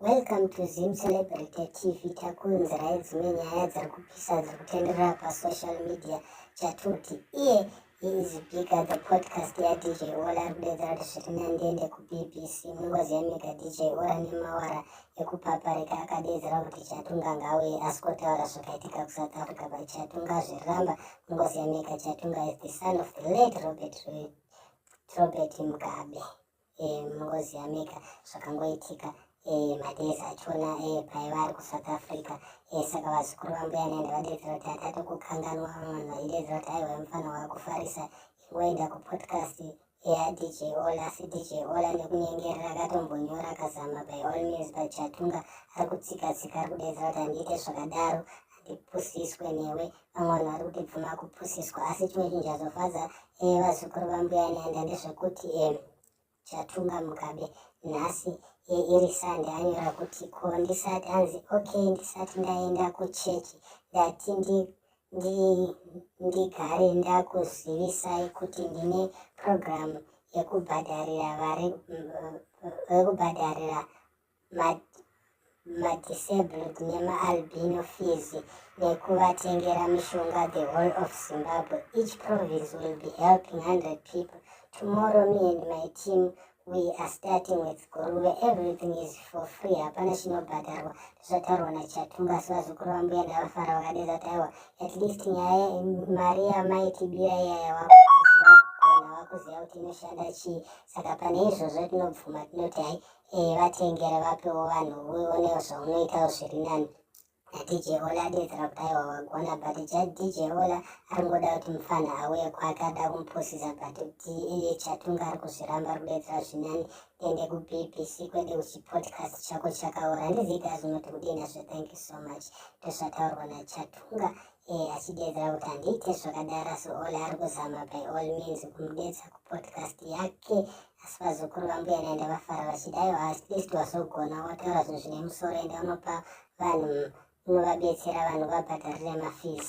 Welcome to Zim Celebrity TV takuunzirai dzimwe nyaya dziri kupisa dziri kutenderera pasocial media chatuti iye he is bigger the podcast yadj ola ari kudedzera kuti zviri nandiende kubbc mungozi yamega dj ola nemawara ekupaparika akadedzera kuti chatunga ngauye asi kotaura zvakaitika kusouth africa by chatunga zviriramba mungozi yamega chatunga is the son of the late robert, robert mugabe eh, mungoziva mega zvakangoitika eh, madays achona eh, paiva ari kusouth africa eh, saka vazukuru vambuya nende vadedzera kuti hatate kukanganwa vanhu vaidedzera kuti aiwa mufana wakufarisa ingoenda kupodcast yadj ola cdj ola nekunyengerera akatombonyora akazama by all means but chatunga ari kutsika tsika ari kudedzera kuti handiite zvakadaro tipusiswe newe vamwe vanhu vari kuti bvuma kupusiswa asi chimwe chinhu chazofadza eh, vazukuru vambuya nyanda ndezvekuti eh, chatunga mugabe nhasi eh, iri sande anyora kuti ko ndisati anzi ok ndisati ndaenda kuchechi ndati ndi ndigare ndakuzivisai kuti ndine purogiramu yekubhadharira madisabled nemaalbino fees nekuvatengera mishonga the whole of zimbabwe each province will be helping 100 people tomorrow me and my team we are starting with guruve everything is for free hapana chinobhadharwa zvataurwa nachatunga asi vazukuru vambuya ndavafara vakadeza taiwa at least nyaya mari yamaitibira iyaya wako kuziva kuti inoshanda chii saka pane izvozvo tinobvuma tinoti hai Hey, vatengere vapewo vanhu uonewo zvaunoitawo zviri nani nadj ola adedzera kuti aiwa wagona but jadj ola aringoda kuti mufana auye kwake ada kumupusisa but kuti iye chatunga ari kuzviramba ari kudedzera zvinani tiende kubbc kwede kuchipodcast chako chakaora handiziita zvinoti kudii nazvo thank you so much ndozvataurwa nachatunga ee eh, achidedzera kuti handiite zvakadaro asi ola ari kuzama by all means kumudedza kupodcast yake Asi vazukuru vambuya naye ndavafara vachidaiwo at least wazogona wataura zvinhu zvine musoro ende unopa vanhu unovabetsera vanhu vabhadharire mafees.